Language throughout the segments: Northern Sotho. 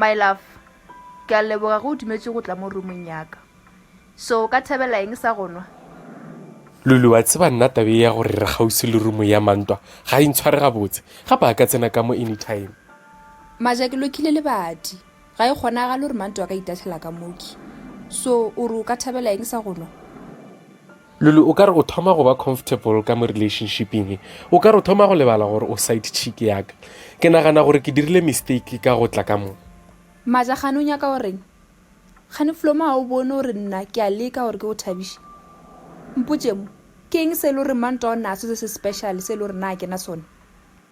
My love, ke a leboga ge o dumetše go tla mo roomong yaka. So o ka thabela eng sa go nwa? Lulu, wa tseba nna tabe ya gore re kgauswi le room ya Mantwa ga e ntshware gabotse, gape a ka tsena ka mo anytime. Maja, ke lokhile lebati. Ga e kgonagale gore manto a ka itahlela ka mooki. So, o re o ka thabela eng sa go nwa? Lulu, o ka re o thoma go ba comfortable ka mo relationshiping. O ka re o thoma go lebala gore o side chick ya ka. Ke nagana gore ke dirile mistake ka go tla ka mo. Maja, Kgane o nyaka go reng? Kgane Flomo ga o bone gore nna ke a leka gore ke go thabiše? Mpotše mo, ke eng se e le gore manto a o ne a setse se special se e le gore nna ga ke na sona?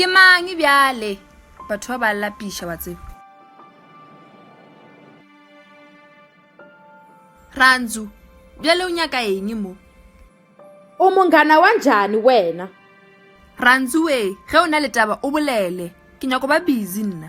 ke mang bjale batho ba ba lapiša wa tseba rantsu bjale o nyaka eng mo o mongana wa njani wena rantsu we ge o na le taba o bolele ke nyako ba busy nna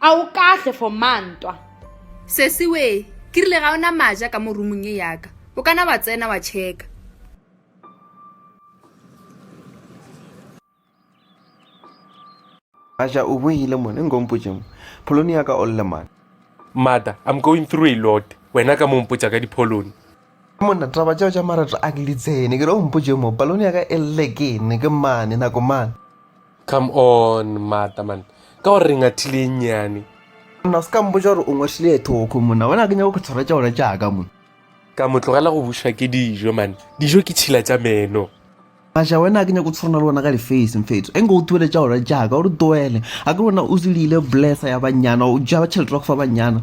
A o kahle for ma ntwa? Sesi we, ke rile ga o na maja ka mo roomong ye ya ka. O ka na wa tsena wa checka. Maja o boile mo, ne nko mpotše mo. Pholone ya ka o lle man. Mother, I'm going through a lot, wena ka mo mpotša ka dipholone. Monna, taba tšeo tša marato a ke di tsene, ke re o mpotše mo, palone ya ka e lle ke ne ke mane, nako mane. Come on, mata man, ka gore re ngathile e nnyane. Monna, o se ka mpotša gore o ngwathile e thoko, monna, bona ke nyako ke tshwara tša ona tša ka, monna. Ka mo tlogela go bušwa ke dijo, man, dijo ke tšhila tša meno. Masha, wena a ke nyako tshwana le wona ka lifase, mfetso, e nko o tuele tša ona tša ka, o re tuele, a ke wena o zilile blessa ya bannyana, o ja tšhelete wa go fa bannyana.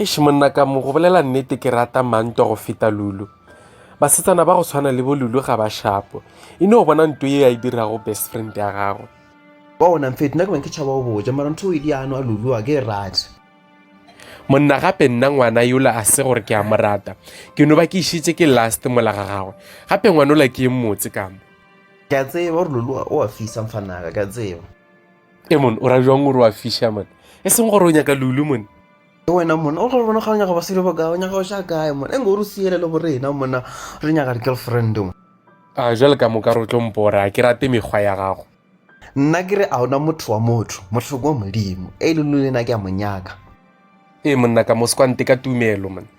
Eish monna ka mo go bolela nnete ke rata mantwa go feta lulu basetsana ba go tshwana le bo lulu ga ba shapo e no bona nto ye ya e dirago best friend ya gagwe wa ona mfeto nna ke bang ke tšhaba go boja mara ntho e diano a lulu a ke e rate monna gape nna ngwana yola a se gore ke a mo rata ke no ba ke išitse ke last mola ga gagwe gape ngwanola ke e mmotse ka mo ke a tseba gore lulu o a fisa mfanaka ke a tseba e mone o ra jwang gore wa fiša mone e seng gore o nyaka lulu mone ke wena mona o gore bona ga o nyaka basadi ba kae o nyaka o xa kae mona e nge o re siele le borena mona re nyaka di-girlfriend mo a ah, jale ka moka re tlo mpora ke rate mekgwa ya gago nna ke re a ona motho wa motho motlhoko wa modimo e le lo lena ke a monyaka ee monna ka moskwante ka tumelo mona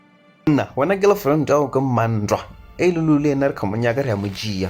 nna wena ke lefront ao ke mmantwa e le lo le ena re kgamonyaka re ya mojia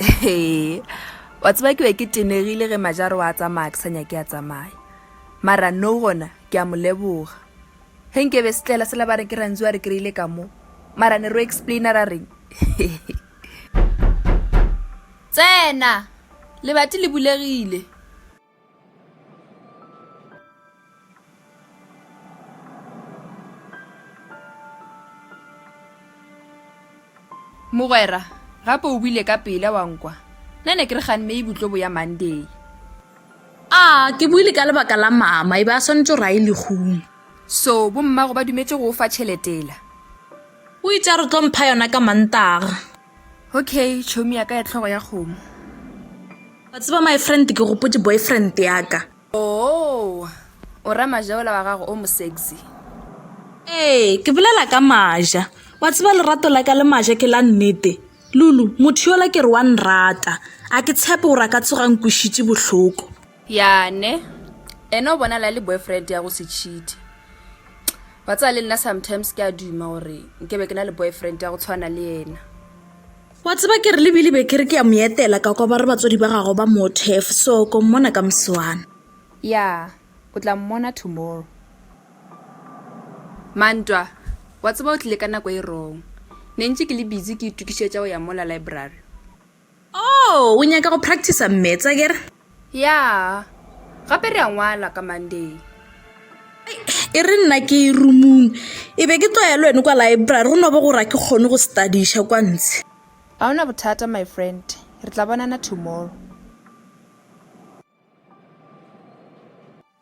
ee wa tseba ke be ke tenegile ge majaro wa tsamaya ke sa nyake a tsamaya mara no gona ke a mo leboga ge nke be se tlela sela ba re ke rantsi wa re kry-ile ka mo mara ne ro explaina ra reng tsena lebati le bulegile mogwera gape o buile ka pele wa nkwa nna ne ke re ganne e butlobo ya monday a ke buile ka lebaka la mama e be a swanetse gore a e legong so bommago ba dumetse go o fa tšheletela o itse a re tlo mpha yona ka mantaga okay chomi ya ka ya tlhogo ya kgomo wa tseba my friend ke gopotse boyfriend yaka oo oh, o ra majaola wa gago o mosexy ee ke bolela ka maja wa tseba lerato la ka le maja ke la nnete lulu motho yola ke re wa nrata a ke tshepe gore a ka tsogang kwišitše bohloko Ya ne ene o bonala le boyfriend ya go se cheat wa tsaya le nna sometimes ke a duma gore nke be ke na le boyfriend ya go tshwana le ena wa tseba ke re lebile be ke re ke ya mo etela ka kwa ba re batswadi ba gago ba mothef so ko mmona ka moswana ya o tla mmona tomorrow mantwa wa tseba o tlile ka nako e wrong ne ntse ke le busy ke itokišetša go ya mola library Oh, o nyaka go practicer mmets a kere? Ya, gape re a ngwala ka Monday. E re nna ke rumung, e be ke tloya le wene kwa library go no bo gora ke kgone go studiša kwa ntshe. Ga ona bothata my friend, re tla bonana tomorrow.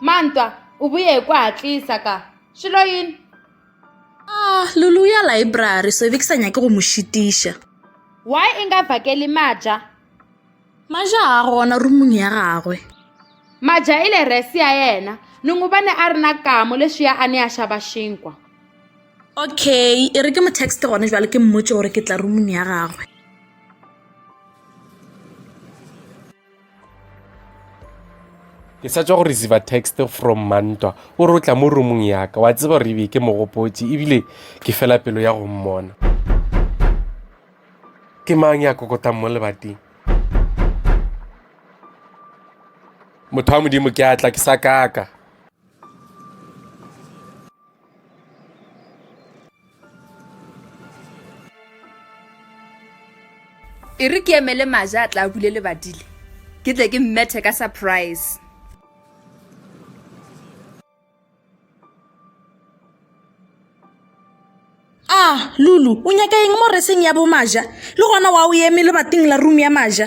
mantwa o boye kwa tlisa ka šelo yini ah lulu ya library so be ke sa nyake go mo šitiša why e nga vakeli maja maja a gona rumong ya gagwe maja e le resi ya yena nongobane a rena kamo leswi ya a ne a xava xinkwa okay e re ke mo text gone jwale ke mmotse gore ke tla rumong ya gagwe ke sa tswa go receive text from mantwa o re o tla mo roomong yaka wa tseba gore ebe ke mogopotse ebile ke fela pelo ya go mmona ke mang ya kokotang mo lebateng motho wa modimo ke atla ke sa kaka e re ke emele maja a tla bule lebadile ke tle ke mmethe ka surprise ah lulu o nyaka eng mo reseng ya bomaja le gona wa o eme lebating la room ya maja